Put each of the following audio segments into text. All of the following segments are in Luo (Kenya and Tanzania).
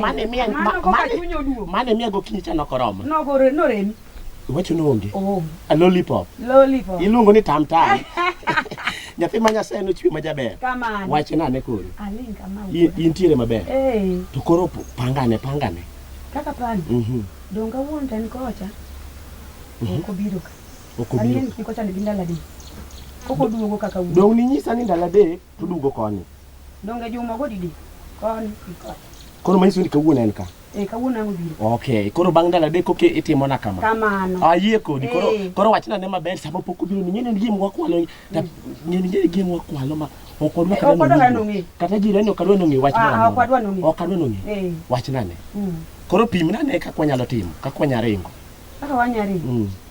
Mane miya Mano ma- kaka mane- chuny oduogo. mane miya gokinyi cha nokoromo. Nogore noremi. Iwacho noonge. Oonge. A lollipop. Lollipop. Iluongo ni tam tam. Nyathi ma Nyasaye nochwe ma jaber. Kamano. Wache nane koro. Aling kama. In- Intiere maber. Eh, To koro p- pangane pangane. kaka pani. Mhm. Donga wuon tan kocha. Mhm. Ok obiro ka. Ok obiro. Ang'eyo ni kocha ni ndala di. Ok oduogo kaka wuon. Dong' ninyisa ni ndalo adek To dugo koni. Donge juma go didi? Koni gi koni. Koro manyiso ni kawuono en ka. Eh, kawuono ang' obiro. Okay, koro bang' ndalo adek koke itimo na kama. Kamano. Ayie kodi. Koro Eh. koro wachna ne maber sama pok obiro ni ng'eni gim wakwalo. ta- Ng'eni ng'eni gim wakwalo ma ok odwa Eh, ok odwa kata nong'e. Kata jirani ok adwa nong'e wach Ah, moro ah, amora. ok adwa nong'e. Ok adwa nong'e. Eh. Wachna ne. Mm. Koro pimna ne kaka wanyalo timo, kaka wanyalo ringo. Kaka wanyari. Mm.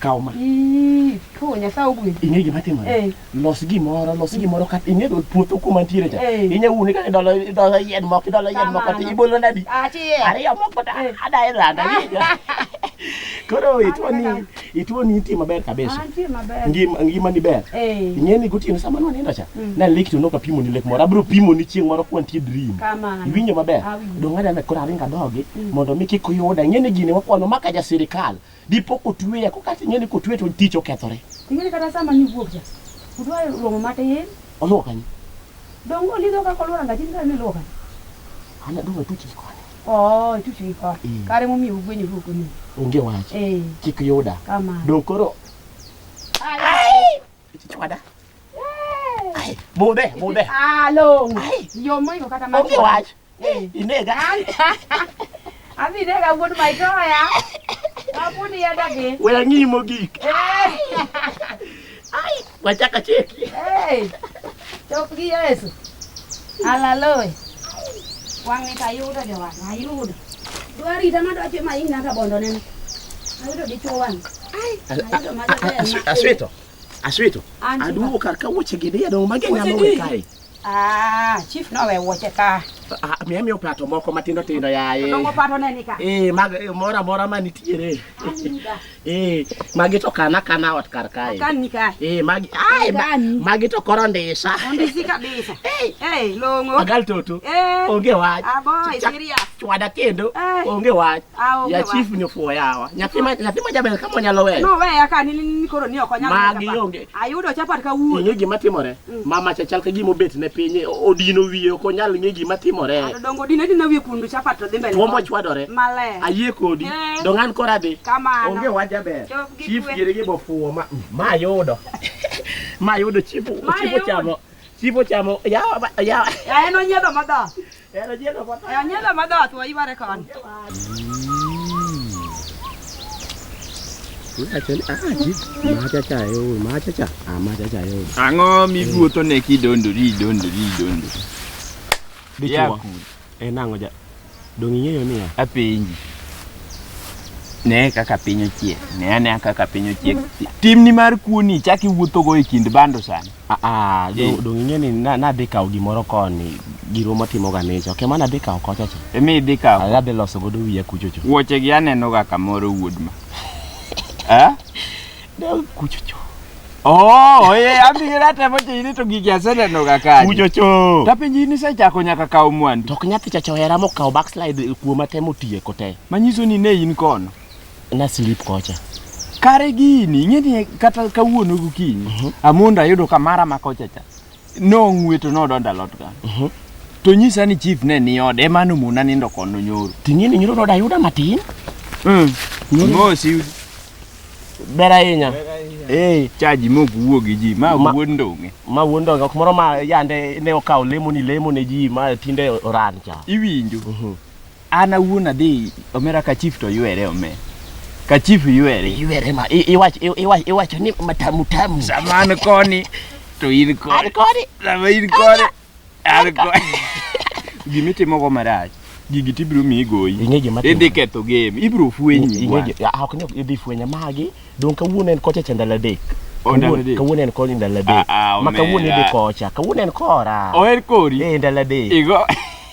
kaw ma Ko nyasaye ogwedhi. ing'e gima timore Eh. los gimoro los gimoro kata ing'e dol puotho kuma ntiere cha Eh. inya wuone kata idolo idolo yien moko idolo yien moko ti Kamano. ibolo nadi Achiel. ariyo moko ta Eh. adae randa koro itwoni Aneno. itwoni nitie maber kabisa Antie maber. ngima ngima ni ber Eh. ing'e ni gotieno sama nwanindo cha na lek to noka pimo ni lek moro abiro pimo ni chieng' moro kwantie dream Kamano. iwinjo maber Awinjo. dong adana koro aringa dogi mondo mi kik uyuda ing'e ni gini wakwano maka ja sirikal Dipo kotweya ko kata ing'e ni kotwe to tich okethore. Ing'e ni kata sama niwuok cha, udwa romo matin. Oluwo kanyo. Donge olidho kaka oluwo rangach in kare niluwo kanyo? An adong' atuch gi koni. Oo, ituch gi koni. Mm. Kare emomiyo ugwenyoru ok ong'eyo. Onge wach. Eh. Kik yuda. Kamano. Donge koro Chwada. Ai, Mudhe, mudhe. Ah, long. Ai. Yo moingo kata ma. Onge wach. Eh. Inega. Adhi nega wuod maitoya. Apuni yada gi. We ang'i mogik. Eh. Ai, wachaka cheki. Eh. Chop gi Yesu. Alaloy. Wang' ni kayudo jowang', ayudo. Dwarita madwache ma ina ka bondo nene. Ayudo dichuo wang'. Asweto. Asweto. Aduwo kar ka wuoche gi dia dong mage nyalo we kae. Ah, chief no we wuoche ka. Ah, mi amiyo pato moko matindo tindo yaye. Dongo pato ne nika. Eh, mag eh, mora mora ma nitiere. Eh, magi to kana kana ot kar kae. Kan nika. Eh, magi ai ma- magi to koro ndisa. Ondisi kabisa. Eh, Eh, longo. agal toto. Eh. Onge wach. Ah, boy, Chak- serious. Chwada kendo. Eh. Onge wach. ya chief ni ofuwo yawa nyathi ma nyathi ma jaber kama nyalo weyo no weya ka ni ni koro ni ok onyalo magi onge ayudo chapat ka wuo ing'e gima timore mm. mama cha chal ka gima obet ne piny odino wiye ok onyal ng'e gima timore dongo dine dine wiye kundu chapat to dhi mbele tuombo chwadore male ayie kodi eh. dongo an kora dhi kamano onge wa jaber chief gire gi bofuwo ma ma yudo ma yudo chief chief chamo chief chamo yawa yawa ya en onyedo madha Enyela madhat wa ibare kan. Ang'o miwuotho ne kidondori idondori idondori? Dichuo. En ang'o ja? Donge ing'eyo niya? Apenji. Ne kaka piny ochiek. Ne ane kaka piny ochiek. Timni mar kuoni chak iwuothogo e kind bando sani. Aa, do- Eh. donge ing'e ni na- nadhi kawo gimoro koni giro matimo ganicha ok ema nadhi kawo kocha cha Emi idhi kawo. Ala adhi loso godo wiya kuchocho Wuoche gi aneno ga kamoro wuod ma. Eh? Dog kuchocho Oh, eh, abi gira temo chini to gigi aseneno ga kaji. kuchocho Ta penji ni sechako nyaka kawo mwandu. to ok nyathi chacha ohera mokawo backslide kuoma temo tieko te Manyiso ni ne in kono. na slip kocha kare gini ing'eni kata kawuono gokinyi uh mhm. -huh. amondo ayudo ka mara ma kocha cha nong'weto nodonda lot ka uh mhm. -huh. to nyisa ni chief ne ni ode ema nomona nindo kono nyoro ting'eni nyoro noda ayuda matin mm. mosi ber ahinya eh. chaji mok wuo gi ji ma wuod ndong'e ma wuod ndong'e ok moro ma yande ne okawo lemo ni lemo ne ji ma tinde oran cha iwinjo uh mhm. -huh. An awuon adhi omera ka chief to ywere ome. Ka chief ywere. Ywere ma i- iwacho i- iwacho iwacho ni matamu tamu. Sama an koni to in An koni. koni. Sama in koni. An koni. Gima itimogo marach. Gigi tibiro miyi goyi. Ing'e gima Idhi timore. ketho game. Ibiro fwenyi. bwana. Ing'eje, ah, ok ne idhi fwenye magi dong kawuono en kocha cha ndalo adek O, ndalo Kawuono- adek. kawuono en koni ndalo adek Ah, ah, ma kawuono omera. idhi kocha kawuono en kora Oher kori. eh ndalo adek Igo.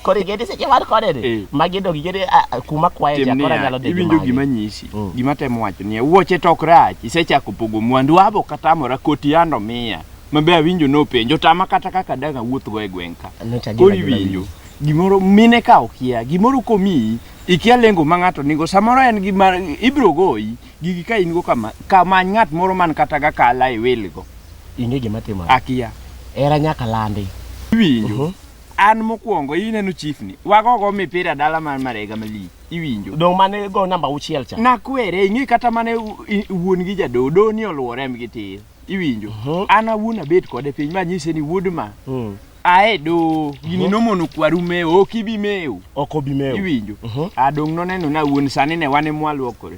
Koro igedi seche mar kode ni. Eh. Magi dog igedi ah, ah, kuma kwaye Tim cha kora niya, nyalo degi iwinjo magi. gima nyisi Mm. gima temo wacho niya wuoche tok rach isechako pogo mwandu abo katamora koti yando miya mabe awinjo nopenjo tama kata kaka daga wuothgo e gweng' ka No, cha koro gima- gima- iwinjo gimoro mine ka okia gimoro komiyi ikia lengo ma ng'ato nigo samoro en gima ibiro goyi gigi ka in go kama kamany ng'at moro man kata ga kala e welgo Ing'e gima timore. akia Era nyaka landi. iwinjo Mhm. an mokwongo ineno chief ni wago go mipira dala mar marega mali iwinjo dong mane go namba uchiel cha nakwere ing'e kata mane u- i- wuon gi jadodo ni oluore mgi tir iwinjo Mhm. an awuon abet kode piny ma nyise ni wuod ma Mm. ae do gini Mhm. nomono kwaru mewo ok ibi mewo ok obi mewo iwinjo Mhm. adong noneno na wuon sani ne wane mwaluokore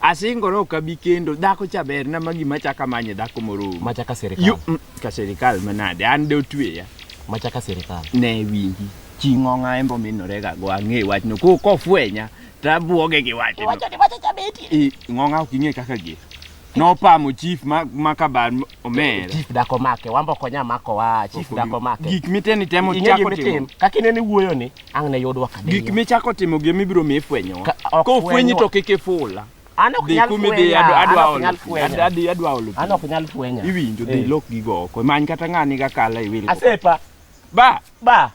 Asingora ok abi kendo. Dhako cha ber na ma gima chaka manye dhako moro. Ma chaka serikal. Yu, mm, ka serikal manade. An de otweya. Ma chaka serikal. Ne winji. Ching'ong'a embo minore ga go ang'e wach no. Ko ko fwenya. Tabuoge gi wach no. Wacha ni wacha cha beti. Ng'ong'a ok ing'e kaka gi. Nopamo chief ma, ma kabar Omera. Chief dako make, wambo konya mako wa, chief dako make. Gik miteni temo Ing'e chako gima timo. itim, kaka ineno iwuoyo ni, ang' ne yudwa ka Gik michako timo gi mibiro mi ifwenyowa. Ka- ok Ka ofwenyi fwenywa. to kik ifula. An ok Dhi nyal kumi dhi fwenya, adwa an adwa ok olo. nyal fwenya. Ad- Adhi adwa olo. An ok nyal fwenya. Iwinjo dhi Eh. lok gigo oko. Many kata ng'ani ga kala iwil. Asepa, Ba. ba.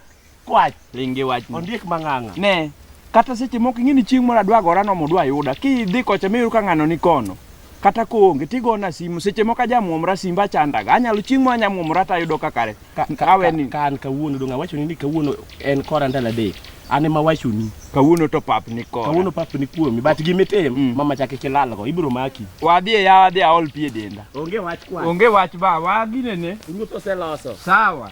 Kwach. Ringi wach. Ondiek mang'ang'a. Ne. Kata seche moko ing'e ni chieng' moro adwa gora no modwa yuda. Kidhi kocha miyudo ka ng'ano ni kono. Kata koonge tigona simu seche moko ajamuomra simba chandaga. Anyalo chieng' moro anyamuomra to ayudo ka kare. Ka, ka, Kawe ni. ka an kawuono dong' awachoni ni kawuono en kora ndalo adek. An ema awachoni. Kawuono to pap ni kora. Kawuono pap ni kuomi. But gimitim, mm. mama chak kik ilalgo. Ibiro maki. Wadhi e yawa adhi aol pi e denda. Onge wach kwa. Onge wach ba, waginene. Ruoth oseloso. Sawa.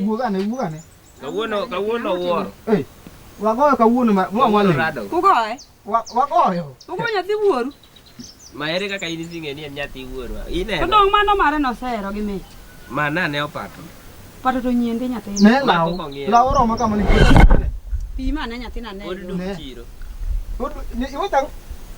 Wuog ane, wuog ane. Kawuono, kawuono wuoro. Ei, wagoyo kawuono ma mwa mwale. Rado. Ugoye? Wa- Wagoyo. Ugo nyathi wuoru? Ma ere kaka in ising'e ni en nyathi wuoro. To Ineno. dong' mano mare nosehero gi mich. Ma nane opato. Pato to nyiende nyathina. Ne law, Mako kong'iewo. law oromo kama ni. Pima ane nyathina ne. Pod duk Ne. chiro. Iwe tang'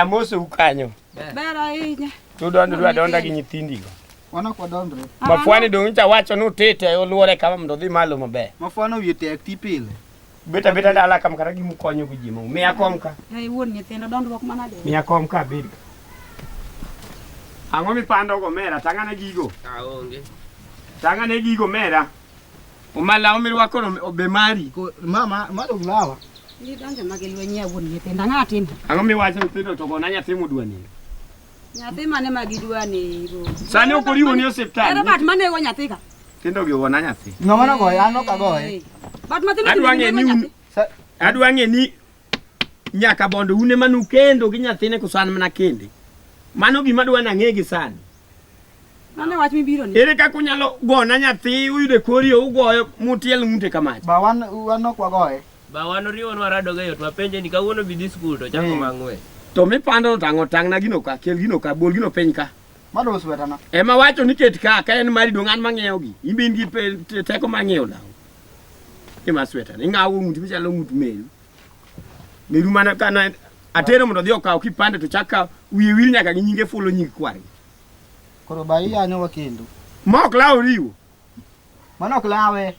amosi ukanyo tudwa ni dwa donda gi nyithindigo mafuani dong' nyicha wacho ni utite oluore kama mondo odhi malo maber mafuani owie tek ti pile beta beta dala kam kata gi mukonyo gi jimo miya kom ka ai wuon nyithindo dondruok mana de miya kom ka bid ang'o mipando go mera tang'ane gigo aonge tang'ane gigo mera Omalawo mirwako obe mari. Mama, mado glawa. Ni donge magi lweny ya wuon nyithindo ang'o atimo? Ang'o miwacho nyithindo to gona nyathi mudwa ni? Nyathi mane ma gidwa ni? Sani ok oriwo ni osiptal. Ero bat mane go nyathi ka? Tindo gi wona nyathi. Ng'ama na goye, an ok agoye. Bat mathindo. Adwa ng'e ni adwa ng'e ni nyaka bondo une manu kendo gi nyathine koso an mana kende mano gima dwa nang'e gi sani mano wach mibiro ni ere kaka unyalo gona nyathi uyude kori ugoyo mutiel ng'ute kamach ba wan wan ok wagoye ba wan oriwo nwa rado ga yot mapenje ni kawuono bi dhi skul to chako hmm. mang'we to mipando no tang'o tang'na gino ka kel gino ka bol gino piny ka mano oswetana ema wacho ni ket ka ka en mari dong' an mang'iewo gi in be in gi teko mang'iewo law Gima sweta. Ingawo ng'ut michalo ng'ut meru. Meru mana kana atero mondo odhi okaw kipande to chaka wiye wil nyaka gi nyinge fulo nying kwari. Koro ba iyanyo wakendo. Ma ok lawo riwo. Mano ok lawe.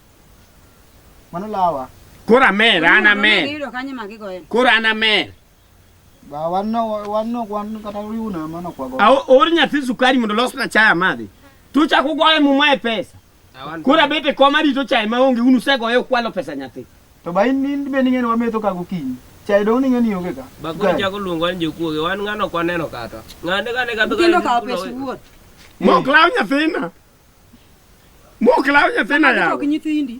Mano lawa. Koro amer, an amer. Giyudo kanye ma gigoyo. Koro an amer. Ba wan no wan no wan kata riwna mano kwago. Aor nyathi sukari mondo losna chai amadhi. Tuchako goye muma e pesa. Koro abet e kom arito chae maonge un usegoye ukwalo pesa nyathi. To ba in in be ning'eni wametho ka gokinyi. Chae dong ning'eni onge ka. Bakuru Chae. chako luongo ni jokuoge wan ng'ano kwa neno kata. Ng'ane kane kadho Nyithindo kawo pes wuon. Mok law nyathina. Mok law nyathina Nyithindo yawa. ok nyithindi.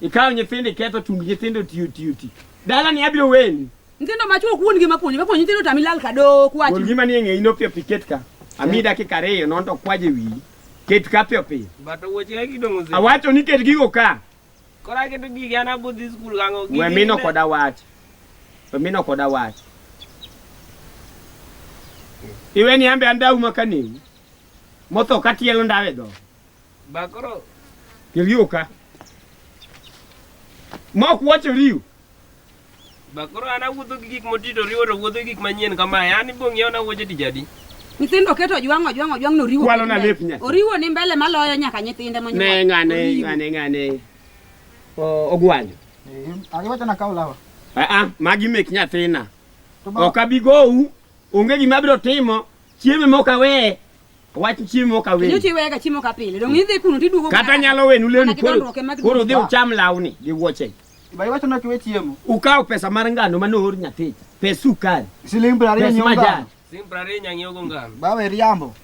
Ikawo nyithindo iketho tung nyithindo tiyo tiyo ti. Dala ni abiro weni. Nyithindo ma chuo kuon gi ma puonjo, ma puonjo nyithindo tami lal ka do kwachi. Kuon gi ma ni ng'e ino pio piket ka. Ami eh. dakika reyo non to kwaje wi. Ket ka pio pio. Bato woche ya kido mose. Awacho ni ket gigo ka. Kora keto gigi ana budhi school gango. Mwe mino koda wach. Mwe mino koda wach. Iwe ni ambe andau makanewu. Motho katielo ndawe dho. Ba koro kelio ka. Ma ok wacho riu. Ba koro an awuotho gi gik moti to riwo to wuotho gi gik manyien kamae. An ibong' yaw na wuoche tich adi? Nyithindo keto ojwang' ojwang' ojwang' no riwo. Kwalo na kende. lep nyathi. Oriwo ni mbele maloyo nyaka nyithinde monyuol. Ne ng'ane Oriwo. ng'ane ng'ane. O- Ogwanyo. Agiwacho na kaw lawa. Ah ah, magi mek nyathina. To ba Ok abi gou. Onge gima abiro timo Chiemo mok awe. Wach chiemo mok awe. Nyochi wega chiemo ka pile. Dong idhi kuno tiduogo. Kata nyalo wenu leni koro. Koro dhi ucham lawni gi wuoche. Bai wacho nok we chiemo. Ukawo pesa mar ngano ma noor nyathi. Pes sukari. Siling 20 nyonga. Pes majan. Siling 20 nyang'iogo ngano. Bawe riambo.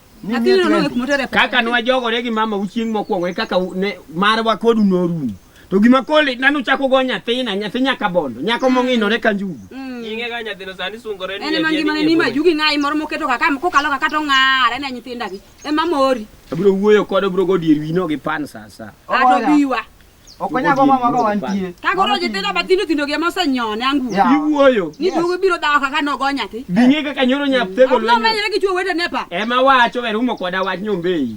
Kaka nwa jogore gi mama uchieng' mokwongo e kaka ne marwa kodu norumo. To gima kole nanu chako go nyathina, nyathi nyaka bondo, nyako mong'inore ka njugu. Mm. Nyinge ga nyathino sani sungore ni. En ma ngima ni ma jugi ngai moro moketo ka kam kokalo ka kato ng'ara ne nyithinda gi. E ma mori. Abiro wuoyo kod obro go dier wino gi pan sasa. Ato biwa. Okonya go mama go wantie. Ka goro nyithinda bathindo thindo gi mose nyone angu. Iwuoyo. Ni duogo biro dawa kaka no go nyathi. Binge kaka nyoro nyathego lwenyo. Abro menyre gi chuo wete nepa. E ma wacho e rumo koda wach nyombei.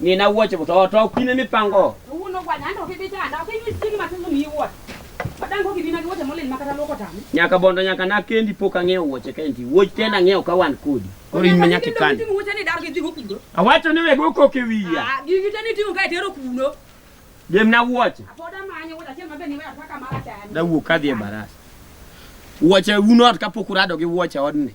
Nina wuoche to to kine mipango. Uno kwa nyando kibita na kibita sigi matimu ni wuot. Madango kibina ki wuoche molil makata loko tami. Nyaka bondo nyaka na kendi pok ang'eyo wuoche kendi. Wuoch tena ng'eyo ka wan kodi. Koro in manyaka kan. Wuoche ni dar gi dhigo kudo. Awacho ni wego koke wiya. Ah, gigi tani tingo ka itero kudo. Jem na wuoche. Apoda manyo wuoche achiel mabe ni weya kaka mara chani. Da wuok kadhi e barasa. Wuoche unot kapok urado gi wuoche odni.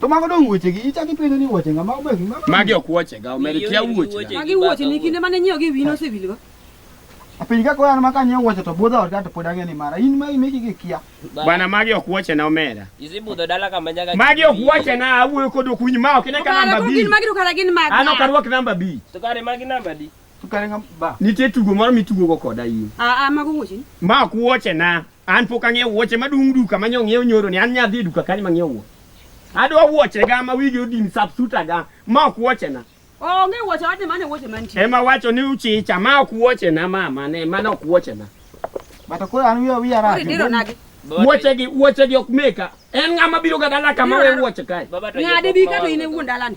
To mago dong wuoche gi ichaki penjo ni wuoche ngama obe gi mago. Magi ok wuoche ga, omed kia wuoche. Magi wuoche ni kinde mane nyiew gi wino osewil go. Apiny ka koyan maka nyiew wuoche to budho orga to pod ang'e ni mara. In ma imeki gi kia. Bana magi ok wuoche na omera. Izi budho dala kama nyaga. Magi ok wuoche na awuoyo kod okuny ma ok ne ka namba bi. Magi to kara gin magi. Ano karwak namba bi. To kare magi namba di. Nitie tugo moro mitugogo koda in. Aa, mago wuoche. Ma ok wuoche na. An pok ang'iewo wuoche madung' duka ma nyong'iew nyoro ni an nyadhi duka kanyo ma ng'iewo wuoche. Adwa wuoche ga ma wigi odin subsuta ga ma ok wuoche na. Onge wuoche wadhi mane wuoche mantie. Ema wacho ni uchicha ma ok wuoche na mama ne mano ok wuoche na. Bata koro an wiya wiya rach. Diro nagi. Wuoche gi wuoche gi ok meka. En ng'ama biro ga dala kama we wuoche kae. Ng'ade bi ka to in e wuon dalani.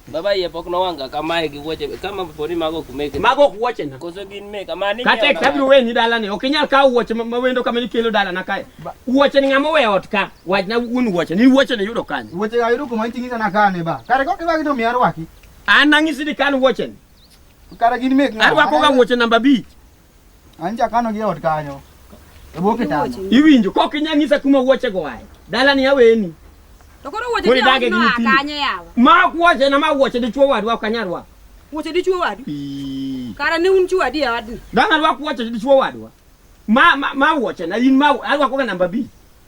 Baba iye pok nowanga kamae gi wuoche kama poni mago ok meke. Mago ok wuoche na. Koso gin meka mani. Kata e kabiro weni dala ni ok inyal kawo wuoche ma wendo kama nikelo dala na kae. Wuoche ni ng'ama owe ot ka. Wach na wuon wuoche ni wuoche ni yudo kanye. Wuoche ga yudo kuma iting'i sana kane ba. Kare kok iwagi to mi arwaki. An nang'isi ni kan wuoche ni. Kare gin mek ng'ama. Arwako ga wuoche namba 5. Anja kano gi ot kanyo. E bwo kitanda. Iwinjo kok inya ng'isa kuma wuoche go wae. Dala ni aweni. To koro wuoche ni dage gi nyithindo. Kanye yawa. Ma wuoche na ma wuoche dichuo wadwa ok anyal rwako. Wuoche dichuo wadu. Kara ne un chuo adi e wadni. Dang' arwak wuoche dichuo wadwa. Ma ma, ma wuoche na in ma arwako ga namba 2.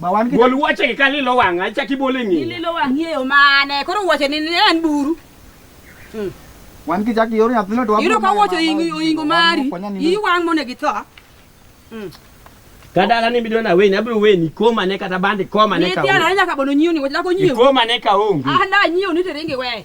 Gol wuoche gi ka lilo wang'a, ichak ibole ng'eyo. Lilo wang'i e yo mane? Koro wuoche ni en buru. Hmm. Wan ki chak yor nyathino to wabiro. Iro ka wuoche oingo mari. Iyi wang' mone gi tho. Hmm. Kadala ni bidona weni abiro weni koma ne kata bandi koma ne ka. Ni tiara nyaka bono nyioni, wach lako nyioni. Koma ne ka onge. Ah na nyioni to ringi we.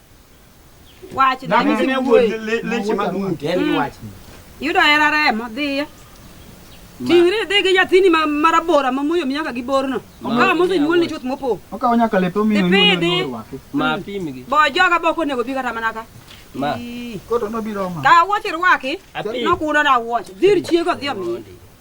Wach na Dakika ne wuod le- leche mag ng'ute. En gi wach. Yudo hera remo dhiyo. Ting'ri idhi gi nyathini ma marabora ma muyo mi nyaka gi borno. Okawa mosenyuol ni chuth mopo. Okawo nyaka lepe omiyo Dhi onyuol pidhi. onyuol rwake. Ma pimgi. Bo joga bok onego bi kata mana ka. Ma. Ii. Koto nobiro ma. Ka wuoch irwaki, Apim. nokuno na wuoch. Dhir chiego dhi omiye.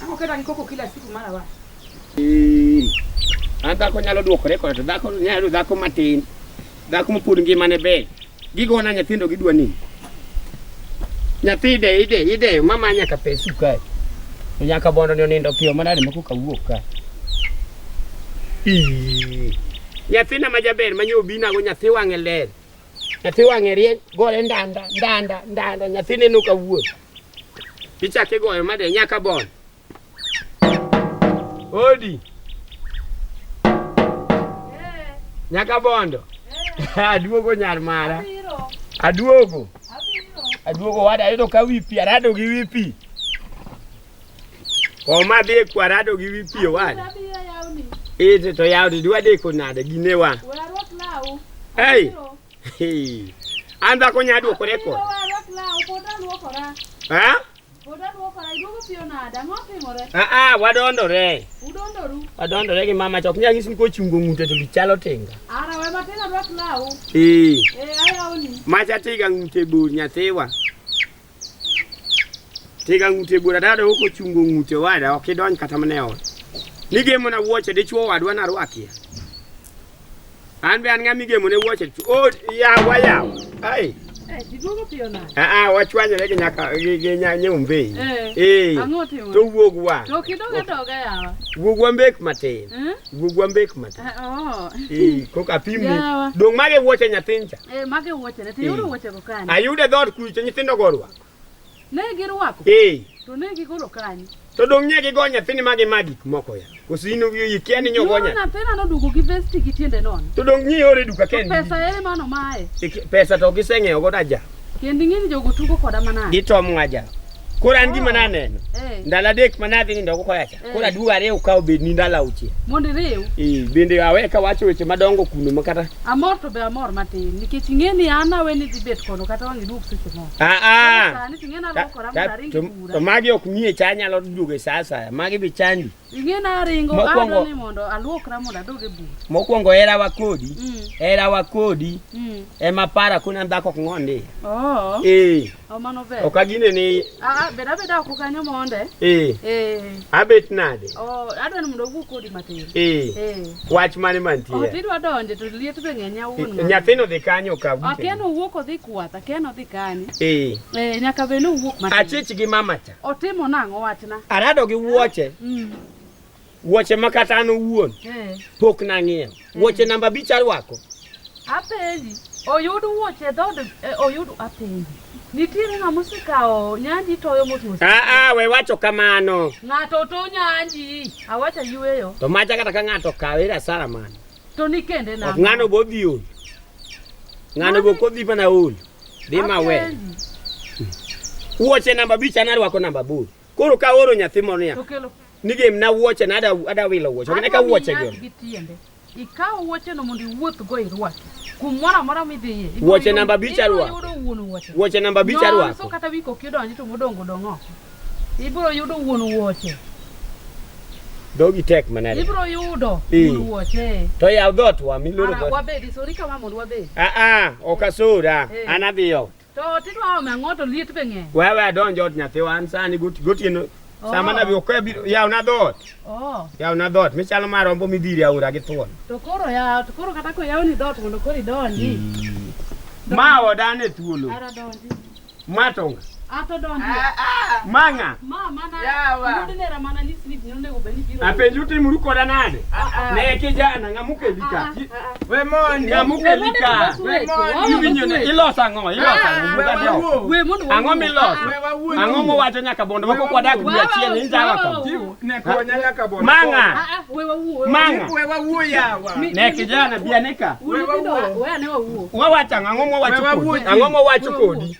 Ang'o kata gi koko kila siku mara wa. An dhako nyalo duokore koda to dhako nyalo dhako matin. Dhako mopod ngimane ber. Gigona nyithindo gidwa nini? Nyathi ide ide ide mama nyaka pesu kae. To nyaka bondo ni onindo piyo manade ma koka wuok kae. Ii. Nyathina ma jaber ma nyo binago nyathi wang'e ler. Nyathi wang'e rieny gore ndanda ndanda ndanda nyathi neno ka wuoth. Picha kigoyo made nyaka bon. Odi. Nyaka bondo. Aduogo nyar mara. Aduogo. Aduogo wada ayudo ka wi pi arado gi wi pi. Oma dhi e kwa arado gi wi pi owada. Ite to yawni dwa deko nade ginewa. Hey. Anza konya adwo kore ko. Ha? Ah ah, wadondore. Udondoru. Wadondore gi mama chok nyagi sin ko chungo ngute to lichalo tinga. Ara we matena dwak lawo. Eh. Eh, aya oni. Macha tiga ngute bur nyathiwa. Tiga ng'ute bura dada ok ochungo ng'ute wada ok idonj kata mane ot. Nigemo na wuoche dichwo wadwa na rwakia. An be an ng'a migemo ne wuoche o yawa yawa. Ai. Ah ah wachwanyore gi nyaka gi gi nya- nyombe. Eh. Eh. Ang'o timo? To wuogwa. To kidoga doga yawa. Wuogwa mbek matin. Eh? Wuogwa mbek matin. Ah, oh. Eh, koka pimni. Yawa. Dong' mage wuoche nyathincha. Eh, mage wuoche ne. Tiyudo Eh. wuoche kanye? Ayude dhood kucho nyithindo go orwako. Ne girwako? Ee. To ne gigolo kanye? To dong' nye gigo nyathini ma gima gik moko ya. Koso in ikia ni nyogo nya. Nyathina nodugo gi vest gi tiende nono. To dong' nye ore duka kendi. Pesa ere mano mae? Pesa to giseng'eyo go daja. Kendi ng'eni jogo tugo koda manade. Gitom ngaja. Koro an gima oh. naneno. Eh. Ndalo adek manadhi nindo ko koyacha. Eh. Koro aduogo ariw ka obed ni ndalo auchiel. Mondo iriw? Ee, bende awe ka wacho weche madongo kuno ma kata. Amor to be amor matin nikech ing'e ni an awe ni dhi bet kono kata wang' iduog seche moko. Ah ah. Sani ting'e na lokora ma aringi kura. To magi ok mie cha nyalo duogo e saa asaya. Magi bi chandi. Ing'e na aringo adwa ni mondo aluokra mondo adog e bur. Mokwongo hera wa kodi. Mm. Hera wa kodi. Mm. Ema para kuna dhako ok ng'ondi. Oh. Ee. Mano ber. Ok agine ni Ah, bed abeda oko kanyo mondo. eh Eh. abet nade? Oh, adwa ni mondo owuo kodi matin. Eh Eh. wach mane Oh, mantie? tidwa donje to liet be ng'eny awuon. ng'ato. Nyathino dhi kanyo ka Ah, Ken owuok odhi kwath, Ken odhi kanye. Eh Eh, nyaka bed ni owuok matin. achich gi mama cha. Otimo nang'o wachna? Arado gi wuoche. Mm. Wuoche ma kata an owuon eh. pok nang'iewo. Eh. Wuoche namba abich arwako. Apenji, oyud wuoche dhod eh, oyud apenji. Nitiere ng'ama osekawo nyanji toyo motuosi. Ah ah, we wacho kamano. Ng'ato to nyanji, awacha yueyo. To macha kata ka ng'ato kawe ira sara mano. To ni kende na. Ng'ano bo dhi ol. Ng'ano bo kodhi mana ol. Dhi ma we. Wuoche namba abich anarwako namba aboro. Koro ka oro nyathi moro niya. Okelo. ni gem na wuoche na ada wilo wuoche ok neka wuoche go ikaw wuoche no mondo iwuoth go irwaki kumoro amora midhiye wuoche namba abich arwako wuoche namba abich arwako so kata wiko kidonji to modongo dong oko ibiro yudo wuon wuoche dhogi tek manade ibiro yudo wuon wuoche to yaw dhot wa miloro dhot wabedi sori kama mondo wabedi a a ok asura an adhiyo To tidwa ome ang'o to liet be ng'eny. Wewe adonj ot nyathiwa an sani got- gotieno Oh. sama nabi okoya biro yawna dhoot Oh, yawna dhoot michalo mar rombo midhiri aora gi thuon to koro ya to koro kata koyawni dhoot mondo koro idonji. ma odane thuolo Ara donji. ma tonga Ato donji. ma ng'a Ma mana Yawa. yudo nera mana ni slip ni onego bed ni biro. apenju timuru koda nade ne kijana ng'a mukeli ka Ki- We mondi. Nyamuke lika. We mondi. Iwinyone iloso ang'o? Iloso ang'o? Buga dio. We mondi. Ang'o miloso? Ang'o muwacho nyaka bondo wako kwa dak dwe achiel ni njawa ka. Ne kwa nyaka bondo. Manga. We wawuo. Manga. We wawuo yawa. Ne kijana bianika. We wawuo. We ane wawuo. Wawacho ang'o muwacho kodi? Ang'o muwacho kodi?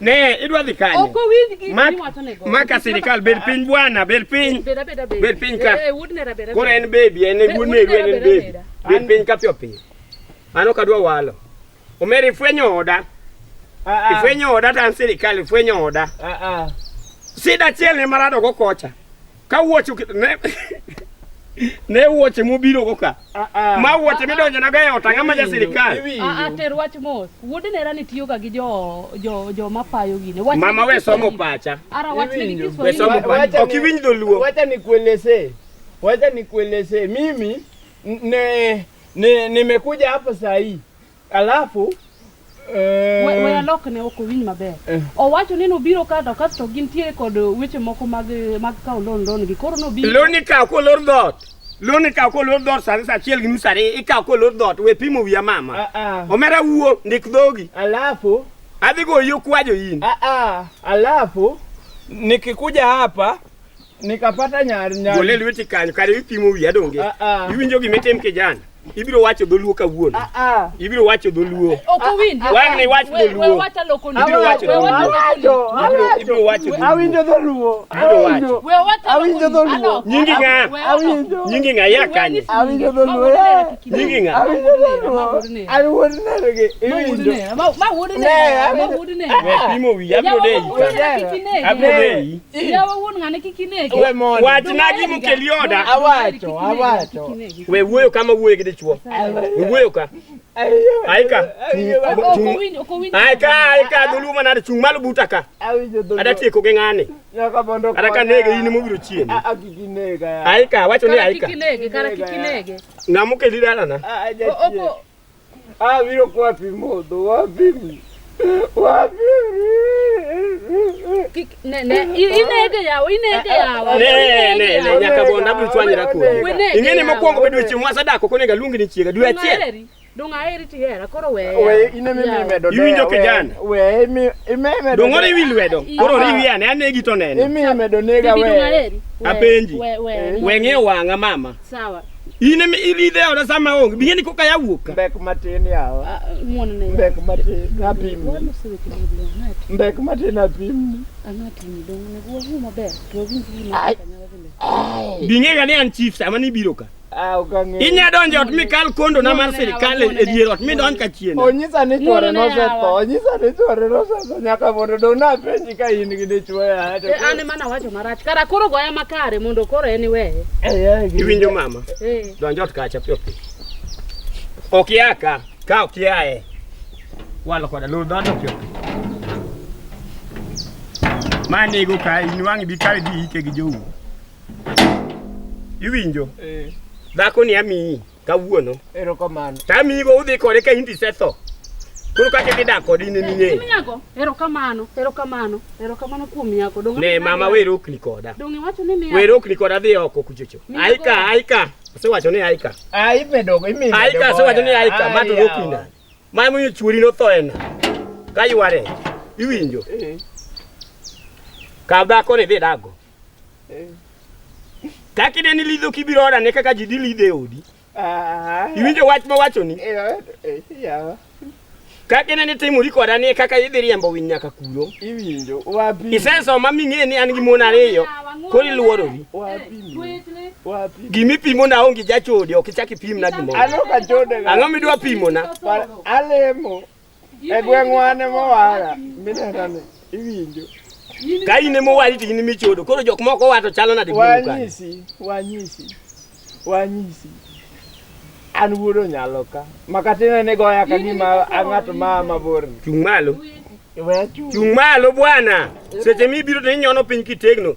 Ne, idwa dhi kanye? Ok owinj gi Mak- miwacho nego. Maka sirikal bed piny bwana, bed piny. Bed abeda bed. Bed piny ka. Eh, eh, wuod nera beda. Koro en baby, en Be- wuod wuod Meru, en Meru, en baby. Meru. Bed piny ka piyo piyo. An ok adwa walo. Omera ifwenyo oda. Ifwenyo oda to an sirikal ifwenyo oda. Sida achiel ne marado go kocha. Ka wuoche ne ne wuoche mobiro go ka. Ah, ah. Ma wuoche midonjo na ga e otanga ma ja sirkal. Ah, ah ter wach mos. Wuod nera ni tiyo ga gi jo jo jo mapayo gine. Wach Mama we somo pacha. Ara wach ni Kiswahili. We somo pacha. Ok iwinj dholuo. Wacha nikueleze. Wacha nikueleze. Mimi ne nimekuja hapa saa hii Alafu eh, We- we alok ne ok owinj maber Eh. owacho ni nobiro ka to kasto gintiere kod weche moko mag mag kawo loan loan gi koro nobiro loni ikawo kolor dhot loni ikawo kolor dhot sani sa achiel gi nus ariyo ikawo kolor dhot we pimo wiya mama ah, ah. omera wuo ndik dhogi Alafu adhi goyo kwajo in ah, ah. Alafu nikikuja hapa Nikapata nyar nyar. Gole lweti kanyo kare ipimo wiya ah, donge. Ah. Iwinjo gima itim kijana. ibiro wacho dholuo kawuono ah, ah. ibiro wacho dholuo wang'ni wach dholuo ibiro wacho dholuoibiro wacho awinjo dholuo awinjo dholuo nyingi ng'a nyingi ng'a ya kanye awinjo dholuo nyingi ng'a awinjo dholuo an wuod nergi iwinjo ma wuod ne ma wuod ne pimo wi abiro dei abiro dei wachnagi mukelioda awacho awacho we wuoyo kama wuoyo gi dichuo wuoyo ka aika aika aika dhuluma nade chung' malo buta ka ada tieko gi ng'ani ada ka nege in mobiro chieni aika wacho ni aika ng'ama okeli dalana Ah, viro kwa pimodo, wapi? Wapi? Ne ne inege yawo inege yawo. Ne ne ne nyaka bonda bu twanyira ko. Ingene mokwongo bedo chieng' ma sadako konego aluongi ni chiega dwe achiel. Dong'aeri tihera koro weye. Weye ine mi mi medo. Iwinjo kijana. Weye mi ime medo. Dong'ore iwi lwedo. Koro riwi ane anegi to nene. Imi medo nega weye. Apenji. Weng'e wang'a mama. Sawa. Ine mi ili ile ona sama onge. Biye ni koka yawuka. Mbek matin yawa. Ah, ah, muone na. Mbek matin na pim. Mbek matin na pim. Anati ni dong ne gwa hu maber. To vin vin na kanyala vile. Binge gani an chief sama ni biro ka. Ah, ukange. Inya donjo ot mi kal kondo na mar serikal e dier ot mi donj ka chien. Onyisa ni chwore no se to. Onyisa ni chwore no se to nyaka mondo dong na penye. Ka in gi dichwo e aya to Eh, an ema nawacho marach kara koro goya makare mondo koro en iweye Iwinjo mama? Eh. Donj ot kacha piyo piyo. Ok ia ka, ka ok iae. Walo koda lor dhano piyo piyo. Ma nego ka in wang' bi kawe dhi ike gi jou. Iwinjo? Dhako ni amiyi. kawuono. Erokamano. Tamigo udhi kode ka hindi setho. Koro kake dhi dak kodi ne ming'e. Tim nyako, erokamano, erokamano, erokamano kuom nyako. Donge Ne mama wer okni koda. Donge wacho ni miya. Wer okni koda dhi oko kuchocho. Miya Aika, go. aika. Asewacho ni aika. Ah, imedo imedo. Aika asewacho ni aika ma to okni na. Ma mo chuori no tho ena. Ka yware. Iwinjo. Ka dhako ni dhi dago. Kaka ineni lidho kibiro oda ne kaka ji dhi lidho e odi. Ah. Iwinjo wach ma wachoni? Eh, eh, yawa. Kaka ineni timori koda ni kaka idhi riembo winy nyaka kuro. Iwinjo wapi? Isesoma ming'e ni an gi mon ariyo koro iluorori. Wapi? Gimi pimo na onge jachode ok ichak ipimna gimoro. Ang'o midwa pimona? Alemo. E gweng'wa ne mowara minena ni iwinjo. Ka in ema owari to in ema ichodo. Koro jok moko owa to chalo nade gweng'u kanyo? Wanyisi, wanyisi, wanyisi. An wuod onyalo ka. Makatine ni goya ka gima a ng'at ma a mabor ni. Chung' malo. We achung'. Chung' malo bwana. Seche mibiro to inyono piny kitegno.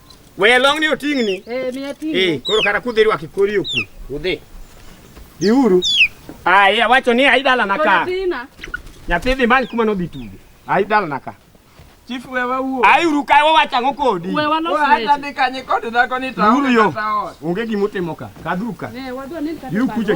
Weya long ni oting'ni. Eh, miya ting'o. Eh, koro kata kudhi rwaki kori oku. Udhi. Diuru. Ah, iya wacho ni ai dalana ka. Nyathi dhi many kuma nodhi tugo. Ai dalana ka. Chief we wawuo. Ai uru ka wawacho ang'o kodi? We walos weche. Ai dhi kanye kod dhako ni tawo. Uru yo. Onge gimutimo ka. Kadhuru ka. Ne wadwa ni kata. Yu kuche.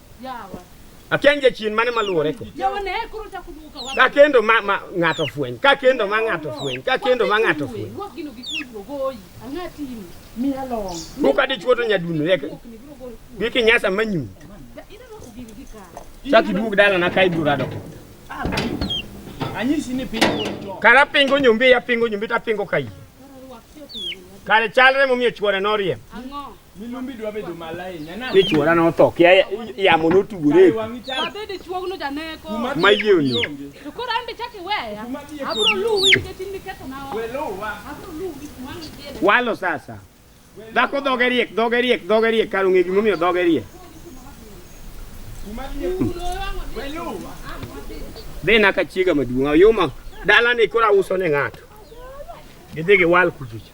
Akian jachien mane maluwore ko. Ka kendo ma, ma ng'ato fweny, ka kendo ma ng'ato fweny, ka kendo ma ng'ato fweny. Kuka dichuo to nyadundo yek. Biki nyasa manyu. Chaki duog dala na kai bura do. Anyisi ni pingo to. Kara pingo nyumbi ya pingo nyumbi ta pingo kai. Kare chalre momiyo chuore noriem. Ang'o? Milumbi dwa bedo malaini. Ana. Ni chuora no tho. Kia yamo no tugure. Abede chuogno janeko. Ma yioni. To koro ambe chaki weya. Abro luwi nikech in niketho na. Welowa. Abro luwi kuma nitiere. Walo sasa. Dhako dhoge riek, dhoge riek, dhoge riek, kar ong'e gimomiyo dhoge riek. Dhi na ka chiega maduong', oyuma dalani koro auso ne ng'ato. Gidhi giwal kuchicha.